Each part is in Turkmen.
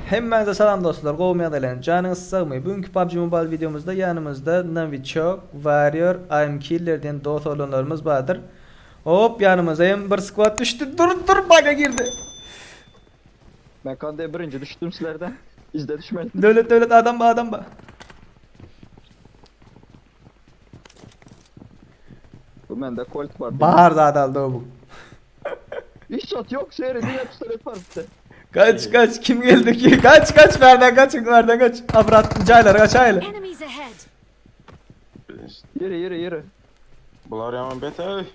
Hemmäňize salam dostlar gowymy ýagdaýlaryň janyňyz sagmy bu günki PUBG Mobile wideomyzda ýanymyzda Novichok, Warrior, Aim Killer diýen dos oglanlarymyz bardyr Hop ýanymyza hem bir skwad düşdi dur dur baga girdi. Men kande birinji düşdüm sizlerden. Yzda düşmeli. Döwlet döwlet adam ba adam ba. Bu mende kolt bar. Bar zada aldobuk. Hiç zat yok seri diňe pistolet bar bizde. Kaç kaç kim geldi ki? Kaç kaç bardan kaç bardan kaç. Abrat caylar kaç ayla. Enemies ahead! Yürü yürü yürü. Bular yaman beter.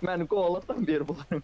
Meni kovalasam bir bularım.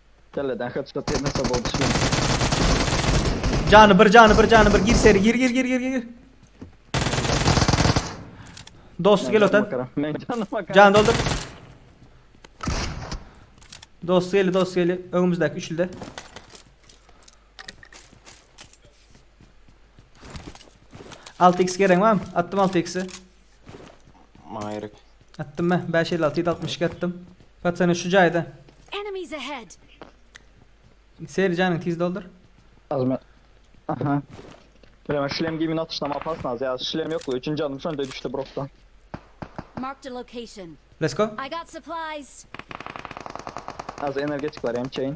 Kelleden headshot ýemese bol düşmez. Jany bir jany bir jany bir gir seri gir gir gir gir gir. Dost gel otan. Men canım bakar. Can doldur. Dost geli dost geli önümüzdeki üçlüde. Altı x gerek var mı? Attım altı x'i. Maýryk. Atdym mä, bäş elli alty ýüz altmyş iki atdym. Paçany şu jaýda. Enemies ahead! Seri janyňy tiz doldur. Azmy? Aha. Bilemen şlem geýmini atyşdam opasnaz ýa şlem ýokdy üçin janym şonde düşdi brosda. Marked a location. Let's go. I got supplies! Azy energetik bar emçeýin.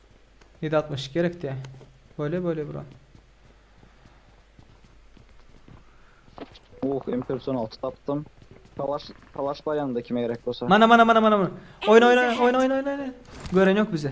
Nji altmyş gerekdä. Bole bole bro. Uuh impersonalty tapdym. Kalaş kalaş bar ýanymda kime gerek bolsa. Mana mana mana mana mana. Oýna oýna oýna oýna oýna oýna. Gören ýok bizi.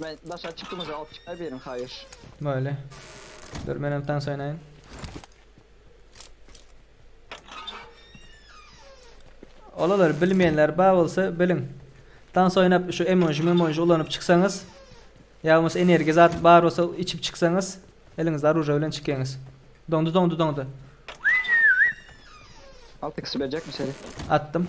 Men daşa çykymyzy alyp çykaý beriň haýyş. Böyle. Dur men hem tans oýnaýyn. Olalar bilmeyenler bar bolsa biliň. Tans oynap şu emoji memoji ulanyp çyksaňyz ya bolmasa energiya zat bar bolsa içip çyksaňyz eliňizde aruje bilen çykyňyz. Dondu dondu dondu. Altı kişi bilecek mi seni? Attım.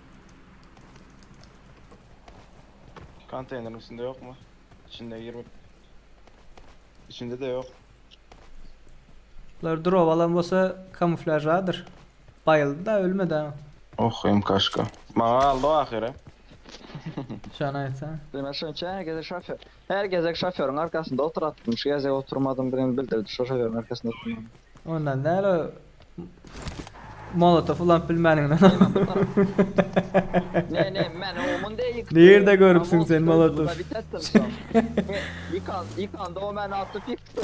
Konteýneriň içinde ýokmy? İçinde girip. İçinde de yok. Bular drop alan bolsa kamuflajdadyr. Bayyldy da ölmedi ha. Oh MK'şka. Maňa aldy ahyry. Şan aytsa. Demek şunça gezi şoför. Her gezek şoförüň arkasynda oturatdym şu gezek oturmadymdygyny bildirdi şo şoförüň arkasynda oturmagyny. Ondan däl o molotow ulanyp bilmäniňden. Emma bu tarap. Ne ne men omun deý ýykdy. Nirde görüpsiň sen molotow. Ýykanda o meni atyp ýykdy.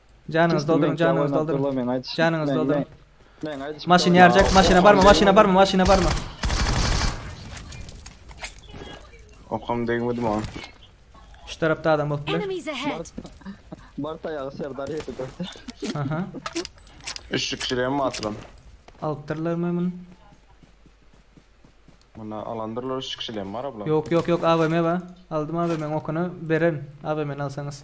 Janyňyzy dolduryň, janyňyzy dolduryň. Janyňyzy dolduryň. Maşyn ýarjak, maşyna barma, maşyna barma, maşyna barma. Okam degmedi maňa. Şu tarapda adam bolup biler. Bart ayağı Serdar yedi dörtte. Aha. Üçlük kirem mi atılan? Alypdyrlar mı bunu? Buna alandırlar üçlük kirem var abla. Yok yok yok AVM var. Aldım AVM'nin okunu beren AVM'ni alsanız.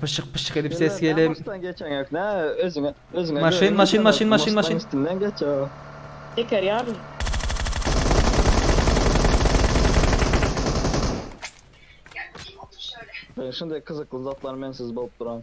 Pyşyk pyşyk edip ses gelip. Maşyn geçen yok ne özüne özüne. Maşyn maşyn maşyn maşyn maşyn. Üstünden geç ya. Teker yar. Ben şimdi kızıklı zatlar mensiz bolup duran.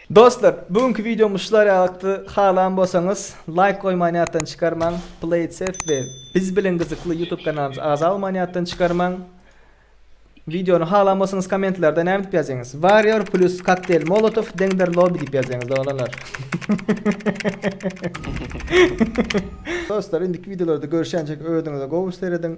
Dostlar, bu günki wideomyz şular ýalykdy. Halan bolsaňyz, laýk goýman ýatdan çykarmaň, Playtsafe we Biz bilen gyzykly YouTube kanalymyzy azalman ýatdan çykarmaň. Wideony halan bolsaňyz kommentlarda näme diýip ýazýaňyz? Warrior plus kokteýl molotow deňdir lobby diýip ýazýaňyz oglanlar. Dostlar, indiki wideolarda görüşýänçäk özüňize gowy serediň.